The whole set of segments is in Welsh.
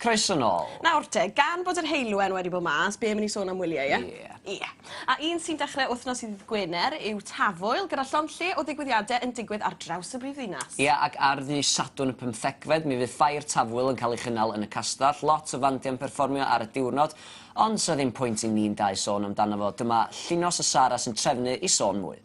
Croeso nôl. Nawr te, gan bod yr heulwen wedi bod mas, be mynd i sôn am wyliau, ie? Ie. Ie. A un sy'n dechrau wythnos i ddydd Gwener yw Tafwyl, gyda llond lle o ddigwyddiadau yn digwydd ar draws y brif ddinas. Ie, ac ar ddydd Sadwrn y pymthegfed, mi fydd Ffair Tafwyl yn cael ei chynnal yn y Castell. Lot o fandiau'n perfformio ar y diwrnod, ond 'sa ddim pwynt i ni'n dau sôn amdano fo. Dyma Llinos a Sara sy'n trefnu i sôn mwy.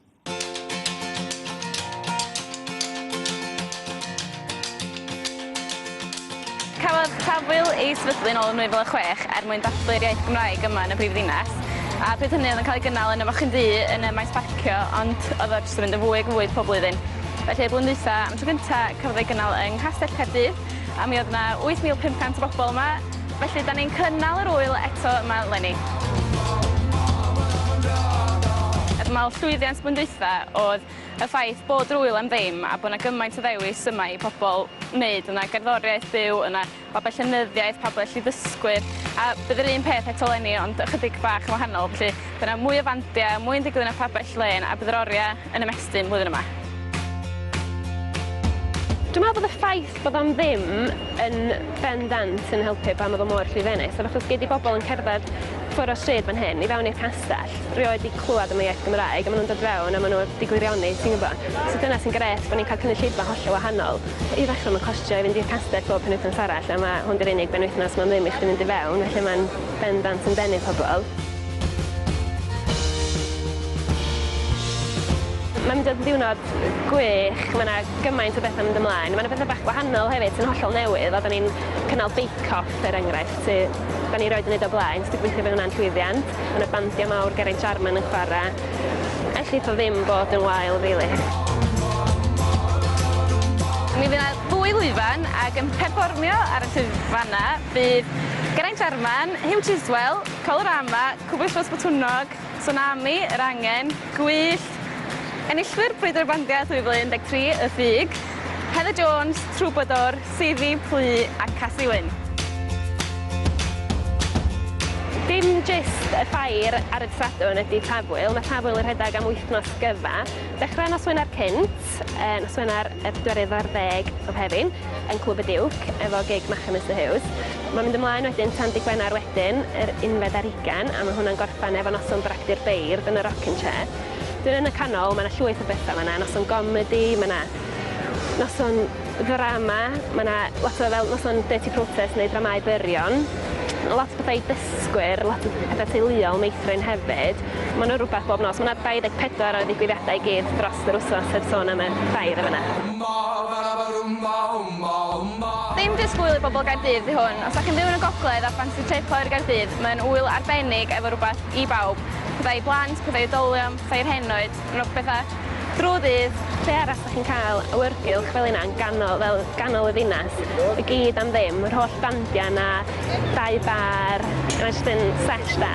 Cafodd Tafwyl ei sefydlu yn ôl yn 2006 er mwyn dathlu'r iaith Gymraeg yma yn y brifddinas, a pryd hynny oedd yn cael ei gynnal yn y Mochyn Ddu yn y maes parcio ond oedd o jyst yn mynd yn fwy ac yn fwy pob blwyddyn. Felly y blwyddyn dwytha, am y tro cynta, cafodd ei gynnal yng Nghastell Caerdydd a mi oedd yna 8,500 o bobl yma Felly, da ni'n cynnal yr ŵyl eto yma eleni. Fy marn llwyddiant blwyddyn dwytha oedd y ffaith bod yr ŵyl am ddim a bod 'na gymaint o ddewis yma i pobl wneud, o' 'na gerddoriaeth byw, o' 'na babell llenyddiaeth, pabell i ddysgwyr, a bydd yr un peth eto eleni ond ychydig bach yn wahanol, felly by' 'na mwy o fandia, mwy yn digwydd yn y pabell lên a bydd yr oria yn ymestyn flwyddyn yma. Dwi'n meddwl bod y ffaith bod am ddim yn bendant yn helpu pan oedd o mor llwyddiannus, ond achos gei di bobl yn cerdded ffwr o stryd fan hyn, i fewn i'r castell, rioed wedi clywed am y iaith Gymraeg, a maen nhw'n dod fewn a maen nhw wedi gwirioni, ti'n gwybod? So dyna sy'n gret, bod ni'n cael cynulleidfa hollol wahanol. I ddechrau, mae'n costio i fynd i'r castell bob penwythnos arall, a mae hwn di'r unig benwythnos mae'n ddim i chdi fynd i fewn, felly mae'n bendant yn denu pobl. Mae'n mynd yn ddiwrnod gwych, mae yna gymaint o bethau mynd ymlaen. Mae yna bethau bach gwahanol hefyd sy'n hollol newydd, a da ni'n cynnal bake-off er enghraifft, sy da ni roed yn neud o blaen, so dwi'n gweithio fe hwnna'n llwyddiant. Mae yna bandiau mawr Geraint Jarman yn chwarae. Ellith o ddim bod yn wael rili. Mi fydd yna ddwy lwyfan ac yn perfformio ar y llwyfannau bydd Geraint Jarman, Huw Chiswell, Colorama, Cwbwllos Botwnnog, Tsunami, Yr Angen, Gwyllt, Enillwyr Brwydr y Bandiau 2013, Y Ffug, Heather Jones, Trwbadwr, Seifi, Plu a Casi Wyn. Dim jyst y ffair ar y dydd Sadwrn ydy Tafwyl, mae Tafwyl yn rhedeg am wythnos gyfa. Dechrau nos Wener cynt, nos Wener y pedwerydd ar ddeg o Fehefin, yn Clwb y Diwc efo gig Machu Mister Huws. Mae'n mynd ymlaen wedyn tan dydd Gwener wedyn, yr unfed ar hugain, a mae hwnna'n gorffen efo noson bragdy'r beirdd yn y Rockin' Chair. Wedyn yn y canol mae 'na llwyth o betha, mae 'na noson gomedi, mae 'na noson ddrama, mae 'na lot o fel noson dirty protest neu dramâu byrion, lot o bethau i dysgwyr, lot o petha teuluol, meithrin hefyd. Mae yna rhywbeth bob nos. Mae yna 24 o ddigwyddiadau i gyd dros yr wythnos heb sôn am y ffair yn fan'na. Dim jyst gŵyl i bobl Gaerdydd 'di hwn. Os 'da chi'n byw yn y gogledd a ffansi trip oer Gaerdydd, mae'n ŵyl arbennig efo rhywbeth i bawb. Pethau i blant, pethau i oedolion, pethau i'r henoed. Rhowch pethau drw'r dydd, lle arall dach chi'n cael awyrgylch fel hynna yn ganol fel ganol y ddinas i gyd am ddim, yr holl dandiau 'na, dau bar, mae jyst yn sêt da.